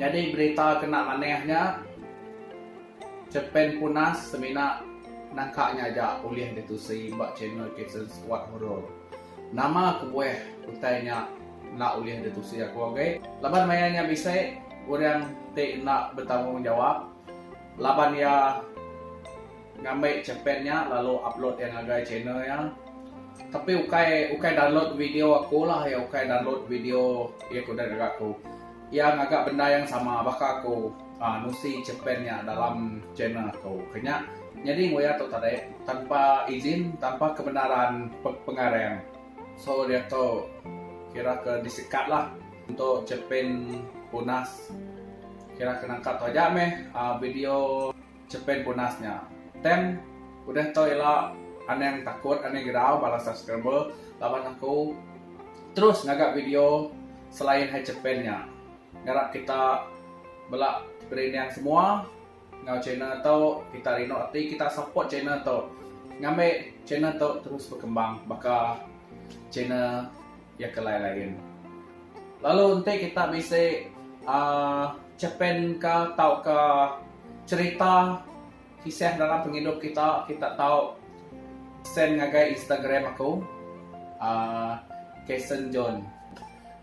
Nyadi berita kena manah nya, Cepin Punas semina nangka nya aja ulih ditusi ba channel Kitchen Squad Horror. Nama kebuah utai nya enda ulih ditusi aku agi? Laban maya nya bisi orang ti enda betanggungjawab laban iya. Ngambi chepet nya lalu upload iya ngagai channel iya. Tapi ukai ukai download video aku lah iya ukai download video iya kudah ngaga aku. Iya ngaga benda yang sama baka aku ah nusi chepet nya dalam channel aku. Kenya nyadi enggau iya tu tadi tanpa izin tanpa kebenaran pengarang. So dia tu kira ke disekat lah untuk chepet punas. Kira ke nangkap tu aja meh ah video. Chepin punas nya. Tem, udah tau ila anang takut anang girau bala subscriber laban aku terus ngaga video selain hai chepin nya. Ngarap kita bela berinding semua enggau channel tu kita rindu ati kita support channel tu ngambi channel tu terus berkembang baka channel Iya ke lain-lain. Lalu enti kita bisi uh, cerpen ke tauka cerita kisah dalam pengidup kita, kita tahu send ngagai Instagram aku. Uh, Kason John.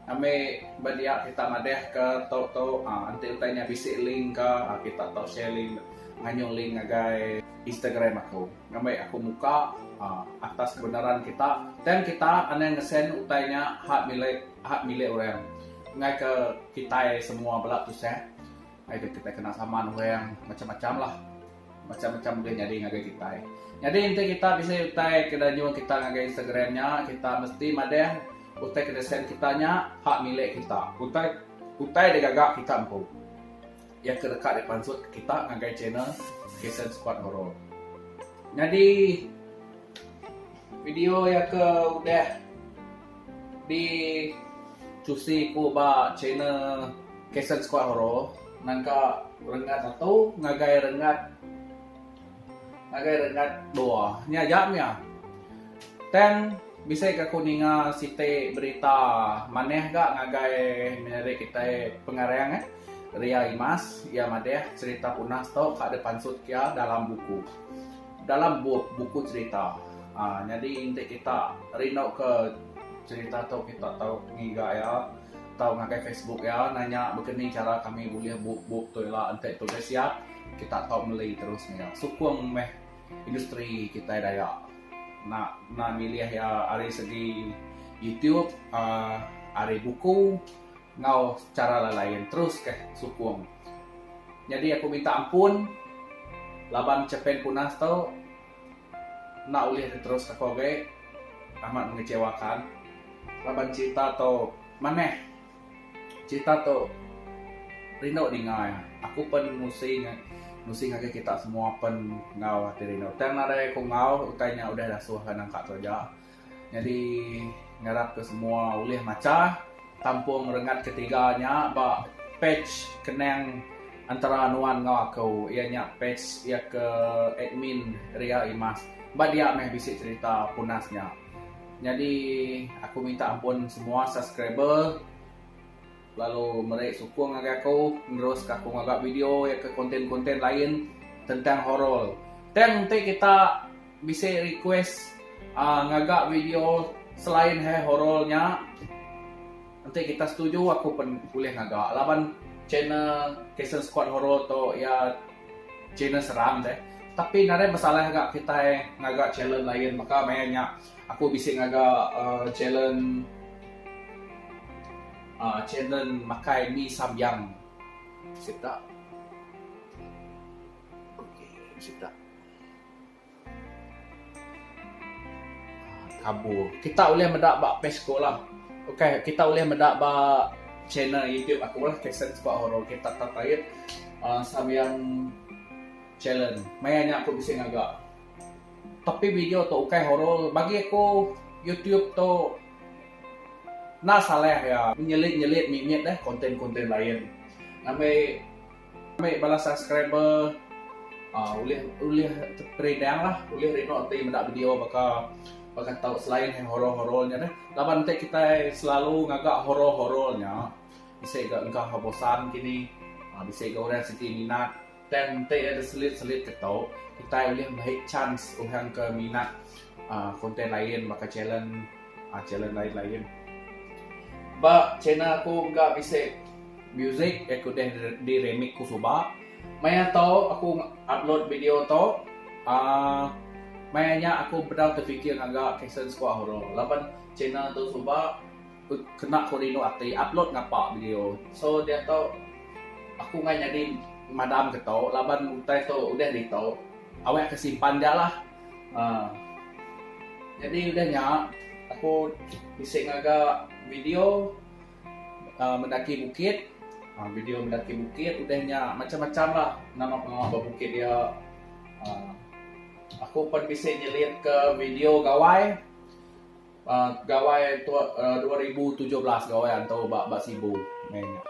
Kami berdia kita madah ke tau tau ah, nanti utai nya bisi link ke ah, kita tau share link nganyung link ngagai Instagram aku. Ngambai aku muka atas kebenaran kita. Tang kita anang ngesen utai nya hak milik hak milik orang. Ngai ke kitai semua bela tusah. Ngai ke kitai kena saman orang macam-macam lah. Macam-macam ulih nyadi ngagai kitai. Nyadi enti kita bisi utai ke eda nyual kita ngagai Instagram nya, kita mesti madah utai ke disen kita nya hak milik kita. Utai utai digaga kita empu. Iya ke deka dipansut kita ngagai channel Kitchen Squad Horor. Nyadi video iya ke udah di cusi ku ba channel Kitchen Squad Horor nangka rengat satu ngagai rengat Ngagai rengat dua nya aja mia. Tang bisi ka aku ninga siti berita manah ga ngagai menyadi kitai pengarang eh Ria Imas iya madah cerita punas tu ka deh pansut iya dalam buku dalam bup buku cerita aaa nyadi enti kita rindu ke cerita tu kita tau ngiga iya tau ngagai Facebook iya nanya begeni cara kami bulih bup bup tu ila enti tulis iya. kita tau meli terus maya sukung meh industri kitai Dayak nak nan milih iya ari segi YouTube aaa ari buku enggau chara lain-lain terus kah sukung. Nyadi aku minta ampun laban Chapain Punas tu enda ulih diterus ka ko agi amat mengecewakan laban cerita tu manah. Cerita tu rindu ninga iya. Aku pen musi musi ngagai kita semua pen enggau ati rindu. Tang nadai ku enggau utai nya udah dasuh ka nangka tu aja. Nyadi ngarap ke semua ulih macha tampung rengat ketiga nya ba page kenang entara nuan enggau aku iya nya page iya ke admin Ria Imas. Ba dia meh bisi cerita punas nya. Nyadi aku minta ampun semua subscriber lalu meri sukung ngagai aku nerus ka aku ngaga video iya ke konten-konten lain tentang horror. Tang enti kita bisi request aaa ngaga video selain hai horror nya. Enti kita setuju aku pen ulih ngaga laban channel Kason Squad Horror tu iya channel seram deh. Tapi nadai masalah ga kitai ngaga channel lain baka maya nya aku bisi ngaga uhh channel uhh channel makai mee sambiang sida. Sida. Kabur. Kita ulih meda ba Facebook lah. Okay, kita ulih meda ba channel YouTube aku lah. Kasen Sebak Horo. Okay, tap tap ait. Uh, Sabian Challenge. Maya nya aku bisi ngaga. Tapi video tu okay horo. Bagi aku, YouTube tu na salah iya. Nyelit-nyelit mimit deh konten-konten lain. Ngambi. Ambil bala subscriber uh, ulih ulih teridang lah ulih rindu ti meda video baka baka tau selain yang horor-horor nya deh laban ente kita selalu ngaga horor-horor nya bisa ga engkau ha bosan kini uh, bisa ga orang siti minat dan ente ada selit-selit ke tau kita ulih mai chance orang ke minat uh, konten lain baka challenge Channel lain lain. Ba channel aku engka bisi music yang ku udah di remix ku suba. Maya tu aku upload video tu aaa maya nya aku pedau terfikir ngaga caption sikuat hurung laban channel tu suba kena ku rindu ati upload ngapa video. So diatu aku meh nyadi madam ke tu laban utai tu udah ditu awakka simpan ja lah. Haa. Jadi udah nya aku bisi ngaga video aa mendaki bukit, aa video mendaki bukit udah nya macam-macam lah nama pengawa ba bukit dia. Aa aku pan bisi nyelitka video gawai. Gawai tua dua ribu tujuh belas gawai antu ba ba Sibu meh nya.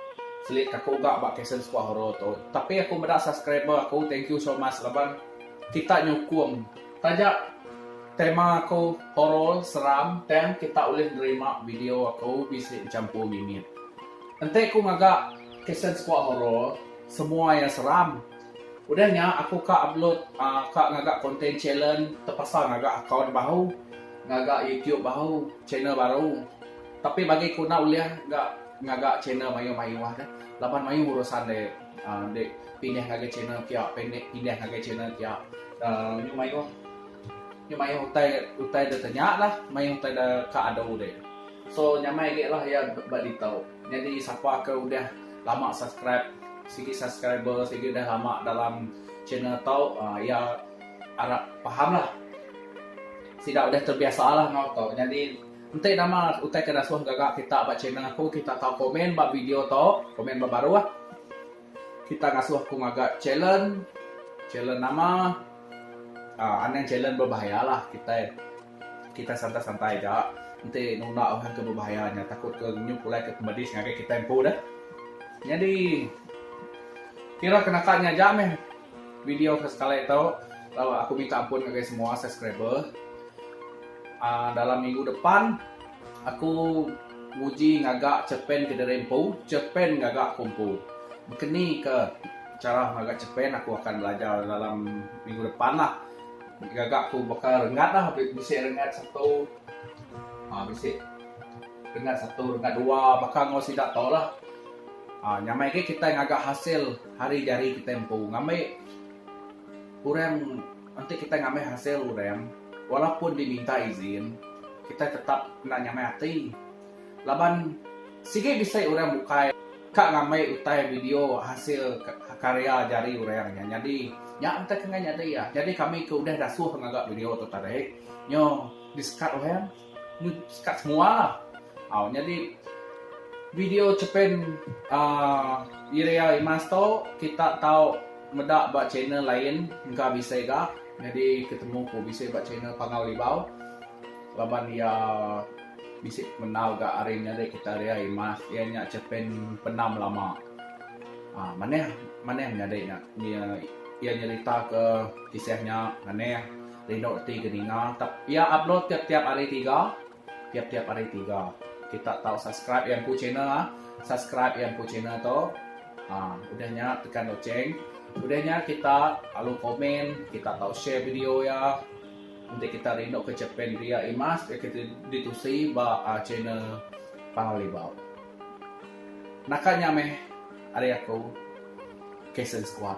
Selit ka aku ga ba Kasen Sekuah Horo tu. Tapi aku meda subscriber aku thank you so much laban kita nyukung taja tema aku horo seram tang kita ulih nerima video aku bisi bechampur mimit. Enti ku ngaga Kasen Sekuah Horo semua iya seram. Udah nya aku ka upload ka ngaga content challenge tepasal ngaga account baru, ngaga youtube baru, channel baru. Tapi bagi ku enda ulih ga ngaga channel mayuh mayuh deh laban mayuh urusan deh deh pindah ngagai channel pia pindah ngagai channel pia mayuh mayuh mayuh mayuh utai utai deh tanya lah mayuh utai deh ka adu deh. So nyamai agi lah iya ba ditu. Nyadi sapa ke udah lama subscribe sigi subscriber sigi udah lama dalam channel tu iya arap paham lah sida udah terbiasa lah ngau tu nyadi enti nama utai ke dasuh gaga kita ba channel aku kita tau komen ba video tu komen ba baruh. Kita ngasuh ku ngaga challenge, challenge nama aaa anang challenge berbahaya lah kitai, kitai santai santai aja enti nunda orang ke berbahaya nya takut ke nyu pulai ke medis ngagai kitai empu deh. Nyadi kira ke naka nya aja meh video ke sekali tu lalu aku minta ampun ngagai semua subscriber aaa dalam minggu depan. Aku nguji ngaga cerpen ke diri empu, cerpen gaga aku empu. Bekeni ke chara ngaga cerpen aku akan belajar dalam minggu depan lah. Gaga aku baka renggat lah bisi renggat satu aaa bisi renggat satu renggat dua baka enggau sida tu lah. Aaa nyamai agi kitai ngaga hasil hari jari kitai empu ngambi orang Enti kitai ngambi hasil orang walaupun diminta izin, kitai tetap enda nyamai ati laban sigi bisi orang bukai ka ngambi utai video hasil karya jari orang nya nyadi nya enti ke enggai nyadi iya. Nyadi kami ke udah dasuh ngaga video tu tadi nyo disekat orang. Ni sekat semua lah. Au nyadi video cepen uh, Iria Imas tu kita tau meda ba channel lain engka bisi ga. Nyadi ketemu ku bisi ba channel Pangau Libau. Laban iya bisi menau ga ari nyadi kita Iria Imas iya nya cepen penam lama. Uh, manah manah nyadi nya. Iya nyerita ke kisah nya manah. Rindu ti ke ninga tap ia upload tiap tiap hari tiga tiap tiap hari tiga kita tau subscribe ia empu channel ah subscribe ia empu channel tu ah udah nya tekan loceng udah nya kita lalu komen kita tau share video ia enti kita rindu ke chapan ria imas ke kita ditusi ba ah channel pangau libau naka nya meh ari aku kasen squad.